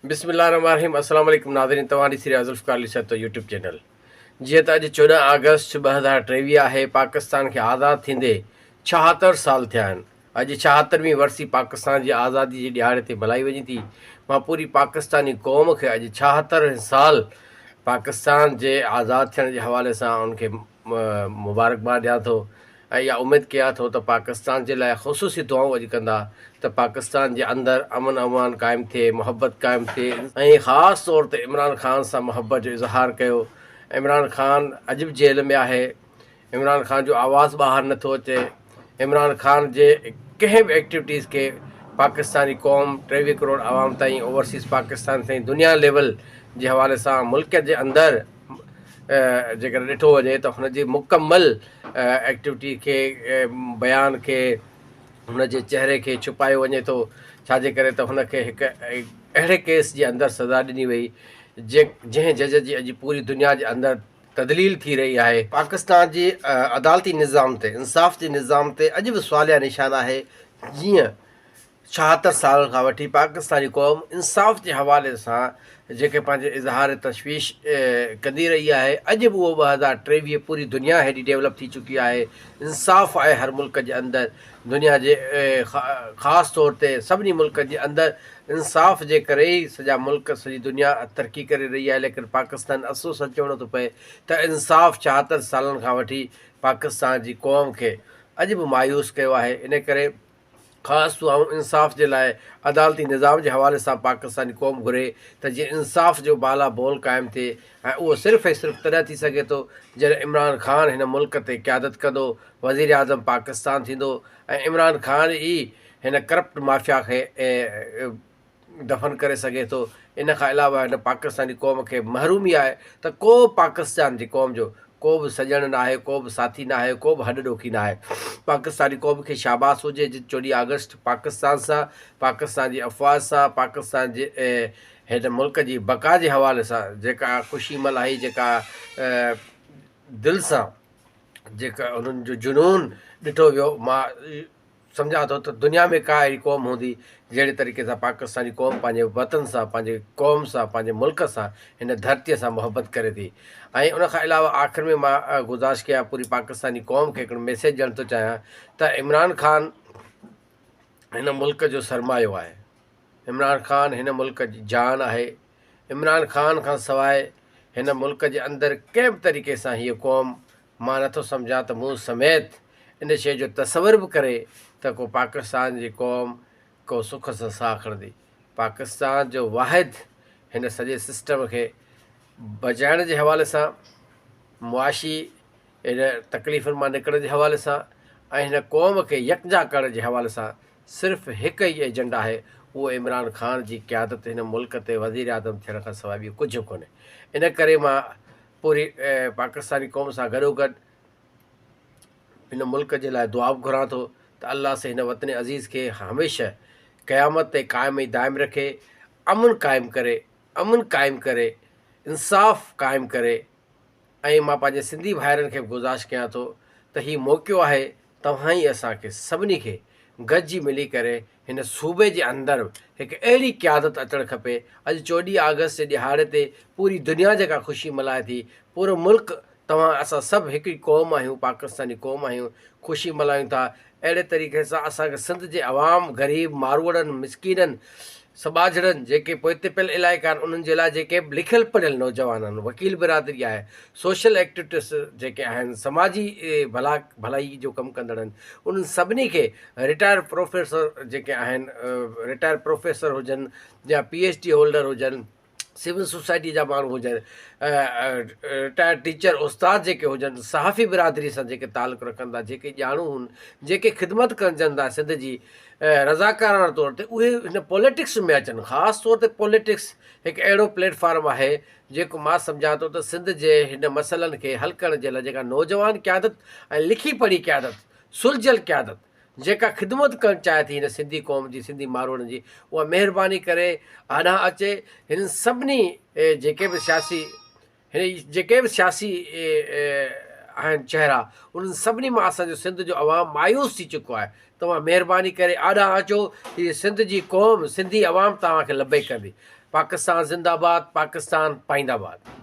بسم الله الرحمٰن الرحيم السلام عليڪم ناظرين توهان ڏسي رهيا ذوالفقار علي سهتو يوٽيوب چينل جيئن ته اڄ چوڏهن آگسٽ ٻه هزار ٽيويهه آهي پاڪستان کي آزاد ٿيندي ڇاهتر سال ٿيا آهن اڄ ڇاهتروين ورسي پاڪستان جي آزادي جي ڏهاڙي تي ملهائي وڃي ٿي مان پوري پاڪستاني قوم کي اڄ ڇاهتر سال پاڪستان جي آزاد ٿيڻ جي حوالي سان ان کي مبارڪباد ڏيان ٿو ۽ اها اميد ڪيان ٿو ته پاڪستان جي لاء خصوصي دعائون اڄ ڪندا ته پاڪستان جي اندر امن امان قائم ٿئي محبت قائم ٿئي ۽ خاص طور تي عمران خان سان محبت جو اظهار ڪيو عمران خان اڄ به جيل ۾ آهي عمران خان جو آواز ٻاهر نٿو اچي عمران خان جي ڪنهن به ايڪٽيوٽيز کي پاڪستاني قوم ٽيويهه ڪروڙ عوام تائين اوورسيز پاڪستان سائين دنيا ليول جي حوالي سان ملڪ جي اندر جيڪڏهن ڏٺو وڃي ته هن جي مڪمل ايڪٽيوٽي کي بيان کي هن جي چهري کي ڇپايو وڃي ٿو ڇاجي ڪري ته هن کي هڪ اهڙي ڪيس جي اندر سزا ڏني وئي جنهن جج جي اڄ پوري دنيا جي اندر تذليل ٿي رهي آهي. پاڪستان جي عدالتي نظام تي، انصاف جي نظام تي اڄ به سواليه نشان آهي، جيئن ڇاهتر سالن کان وٺي پاڪستاني قوم انصاف جي حوالي سان جيڪي پنهنجي اظهار تشويش ڪندي رهي آهي، اڄ به اهو ٻه هزار ٽيويهه پوري دنيا هيڏي ڊيولپ ٿي چڪي آهي، انصاف آهي هر ملڪ جي اندر، دنيا جي خاص طور تي سڀني ملڪن جي اندر انصاف جي ڪري ئي سڄا ملڪ سڄي دنيا ترقي ڪري رهي آهي ليڪن پاڪستان افسوس سان چوڻو ٿو پئي ته انصاف چاهتن سالن کان وٺي پاڪستان جي قوم کي اڄ به مايوس ڪيو آهي ان ڪري خاص دعائون انصاف جي لاء عدالتي نظام جي حوالي سان پاڪستاني قوم گهري ته جيئن انصاف جو بالا بول قائم ٿئي ۽ اهو صرف ۽ صرف تڏهن ٿي سگهي ٿو جڏهن عمران خان هن ملڪ تي قيادت ڪندو، وزيراعظم پاڪستان ٿيندو ۽ عمران خان ئي هن ڪرپٽ مافيا کي دفن ڪري سگهي ٿو. ان کان علاوه هن پاڪستاني قوم کي محرومي آهي ته ڪو به پاڪستان جي قوم جو ڪو به سڄڻ ناهي، ڪو به ساٿي ناهي، ڪو به هڏ ڏوکي ناهي. پاڪستاني قوم کي شاباس هجي جن چوڏهين آگسٽ پاڪستان سان، پاڪستان جي افواج سان، پاڪستان جي هي ته ملڪ جي بقا جي حوالي سان جيڪا خوشي ملهائي جيڪا دل سان جيڪا انهن جو جنون ڏٺو ويو مان سمجهان ٿو ته دنيا ۾ ڪا اهڙي قوم هوندي جهڙي طريقي سان پاڪستاني قوم پنهنجي وطن سان پنهنجي قوم سان پنهنجي ملڪ سان هن ڌرتي سان محبت ڪري ٿي ۽ ان کان علاوه آخر ۾ مان گذارش ڪيان پوري پاڪستاني قوم کي هڪڙو ميسيج ڏيڻ ٿو چاهيان ته عمران خان هن ملڪ جو سرمايو آهي عمران خان هن ملڪ جي جان آهي، عمران خان کان سواء هن ملڪ جي اندر ڪنهن به طريقي سان هيء قوم مان نٿو سمجهان ته مون سميت ان شيء جو تصور به ڪري ته ڪو پاڪستان جي قوم ڪو سک سان ساهه کڻندي. پاڪستان جو واحد هن سڄي سسٽم کي بچائڻ جي حوالي سان، معاشي ان تڪليفن مان نڪرڻ جي حوالي سان ۽ هن قوم کي يڪجا ڪرڻ جي حوالي سان صرف هڪ ئي ايجنڊا آهي اهو عمران خان جي قيادت هن ملڪ تي وزيراعظم ٿيڻ کان سواء ٻيو ڪجهه ڪونهي ان ڪري مان پوري پاڪستاني قوم سان گڏوگڏ هن ملڪ جي لاء دعا به گهران ٿو ته الله سي هن وطن عزيز کي هميشه قيامت تي قائم ۽ دائم رکي امن قائم ڪري امن قائم ڪري انصاف قائم ڪري ۽ مان پنهنجي سنڌي ڀائرن کي به گذارش ڪيان ٿو ته هي موقعو آهي توهان ئي اسان کي سڀني کي گڏجي ملي ڪري هن صوبي جي اندر هڪ اهڙي قيادت اچڻ کپي، اڄ چوڏهين آگسٽ جي ڏهاڙي تي پوري دنيا جيڪا خوشي ملهائي ٿي، پورو ملڪ توهان اسان سڀ هڪ ئي قوم آهيون پاڪستاني قوم آهيون خوشي ملهايون ٿا اهڙي طريقي سان اسان کي سنڌ جي عوام غريب ماروئڙن مسڪينن سٻاجهڙن جيڪي پوئتي پيل علائقا آهن انهن جي لاء جيڪي به لکيل پڙهيل نوجوان آهن وڪيل برادري آهي سوشل ايڪٽوٽس جيڪي آهن سماجي ڀلا ڀلائي جو ڪم ڪندڙ آهن انهن سڀني کي رٽائرڊ پروفيسر جيڪي آهن رٽائرڊ پروفيسر هجن يا پي ايڇ ڊي هولڊر هجن سول سوسائٽيء جا ماڻهو هجن، رٽائرڊ ٽيچر، استاد جيڪي هجن، صحافي برادريء سان جيڪي تعلق رکن ٿا، جيڪي ڄاڻو هن، جيڪي خدمت ڪرجن ٿا سنڌ جي رضاڪاراڻه طور تي، اهي هن پوليٽڪس ۾ اچن، خاص طور تي پوليٽڪس هڪ اهڙو پليٽ فارم آهي، جيڪو مان سمجهان ٿو ته سنڌ جي هن مسئلن کي حل ڪرڻ جي لاء جيڪا نوجوان قيادت ۽ لکي پڙهي قيادت، سلجهيل قيادت، جيڪا خدمت ڪرڻ چاهي ٿي هن سنڌي قوم جي سنڌي ماروئڙن جي اها مهرباني ڪري هڏانهن اچي هنن سڀني جيڪي به سياسي هن جيڪي به سياسي آهن چهرا انهن سڀني مان اسان جو سنڌ جو عوام مايوس ٿي چڪو آهي توهان مهرباني ڪري آڏا اچو هي سنڌ جي قوم سنڌي عوام توهان کي لبيڪ ڪندي پاڪستان زنده آباد پاڪستان پائند آباد